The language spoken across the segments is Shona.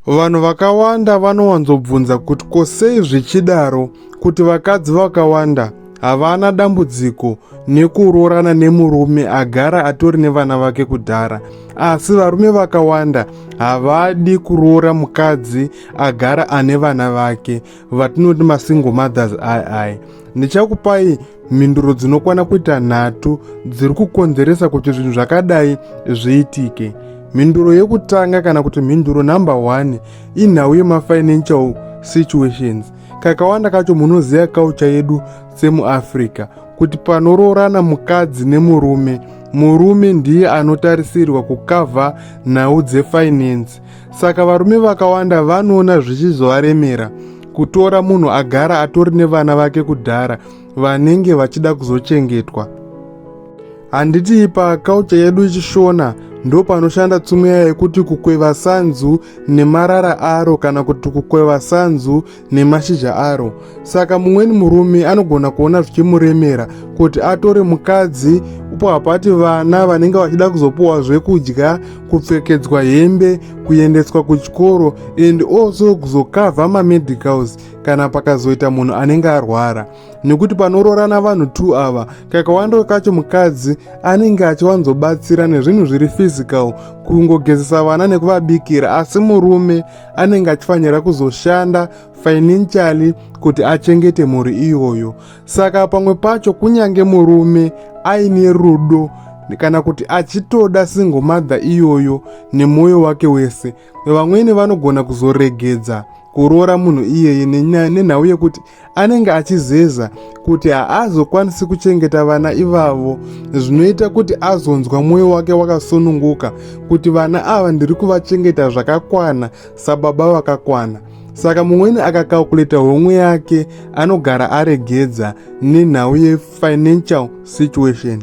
Vanhu vakawanda vanowanzobvunza kuti ko sei zvichidaro kuti vakadzi vakawanda havana dambudziko nekuroorana nemurume agara atori nevana vake kudhara asi varume vakawanda havadi kuroora mukadzi agara ane vana vake vatinoti masingle mothers ii ndichakupai mhinduro dzinokwana kuita nhatu dziri kukonzeresa kuti zvinhu zvakadai zviitike mhinduro yekutanga kana kuti mhinduro number 1 inhau yemafinancial situations kakawanda kacho munoziva kaucha yedu semuafrica kuti panoroorana mukadzi nemurume murume ndiye anotarisirwa kukavha nhau dzefinance saka varume vakawanda vanoona zvichizovaremera kutora munhu agara atori nevana vake kudhara vanenge vachida kuzochengetwa handiti ipa kaucha yedu ichishona ndopanoshanda tsumeya yekuti kukweva sanzu nemarara aro kana kuti kukweva sanzu nemashizha aro saka mumweni murume anogona kuona zvichimuremera kuti atore mukadzi upo hapati vana vanenge vachida kuzopiwa zvekudya kupfekedzwa hembe kuendeswa kuchikoro and also kuzokavha mamedicals kana pakazoita munhu anenge arwara nekuti panoroorana vanhu t ava kakawanda kacho mukadzi anenge achiwanzobatsira nezvinhu zviri physical kungogezesa vana nekuvabikira asi murume anenge achifanira kuzoshanda financially kuti achengete mhuri iyoyo saka pamwe pacho kunyange murume aine rudo kana kuti achitoda single mother iyoyo nemwoyo wake wese vamwene vanogona kuzoregedza kuroora munhu iyeye nenhau yekuti anenge achizeza kuti haazokwanisi kuchengeta vana ivavo zvinoita kuti azonzwa mwoyo wake wakasununguka kuti vana ava ndiri kuvachengeta zvakakwana sababa vakakwana saka mumweni akakalkuleta homwe yake anogara aregedza nenhau yefinancial situation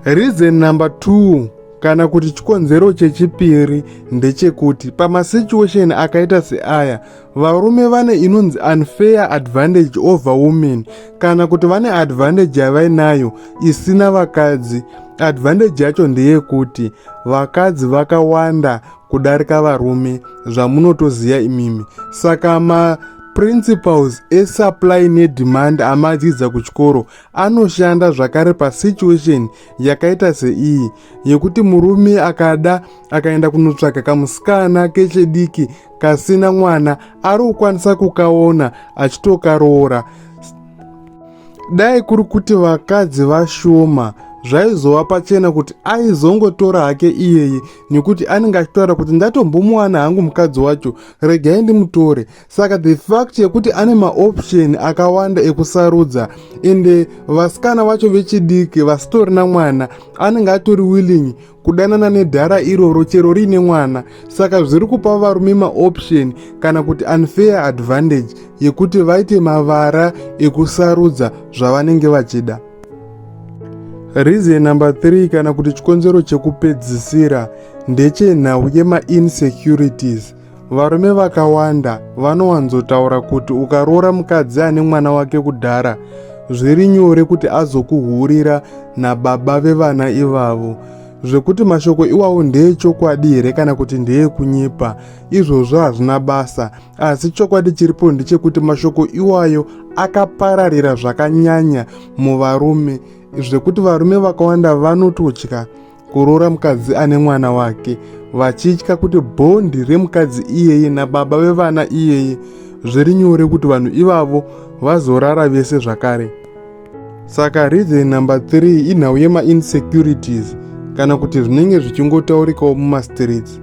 reason number 2 kana kuti chikonzero chechipiri ndechekuti pamasituation akaita seaya varume vane inonzi unfair advantage over women kana kuti vane advantage yavainayo isina vakadzi advantage yacho ndeyekuti vakadzi vakawanda kudarika varume zvamunotoziva imimi saka ma principles esupply nedemand amadzidza kuchikoro anoshanda zvakare pasituation yakaita seiyi yekuti murume akada akaenda kunotsvaka kamusikana kechediki kasina mwana ari kukwanisa kukaona achitokaroora dai kuri kuti vakadzi vashoma zvaizova pachena kuti aizongotora hake iyeye nekuti anenge achitaura kuti ndatombomuwana hangu mukadzi wacho regai ndimutore saka the fact yekuti ane maoption akawanda ekusarudza ende vasikana vacho vechidiki vasitorina mwana anenge atori willing kudanana nedhara iroro chero riine mwana saka zviri kupa varume maoption kana kuti unfair advantage yekuti vaite mavara ekusarudza zvavanenge vachida reason number 3 kana kuti chikonzero chekupedzisira ndechenhau yemainsecurities Varume vakawanda vanowanzotaura kuti ukaroora mukadzi ane mwana wake kudhara zviri nyore kuti azokuhurira nababa vevana ivavo zvekuti mashoko iwawo ndeechokwadi here kana kuti ndeekunyepa izvozvo hazvina basa asi chokwadi chiripo ndechekuti mashoko iwayo akapararira zvakanyanya muvarume zvekuti varume vakawanda vanototya kuroora mukadzi ane mwana wake vachitya kuti bhondi remukadzi iyeye nababa vevana iyeye zviri nyore kuti vanhu ivavo vazorara vese zvakare saka reason number 3 inhau yemainsecurities kana kuti zvinenge zvichingotaurikawo mumastreets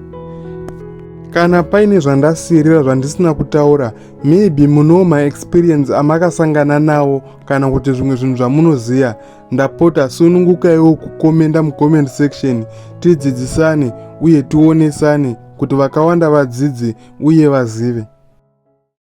kana paine zvandasirira zvandisina kutaura maybe munowo maexperience amakasangana nawo kana kuti zvimwe zvinhu zvamunoziva Ndapota sunungukaiwo kukomenda mucomment section tidzidzisane uye tionesane kuti vakawanda vadzidze uye vazive.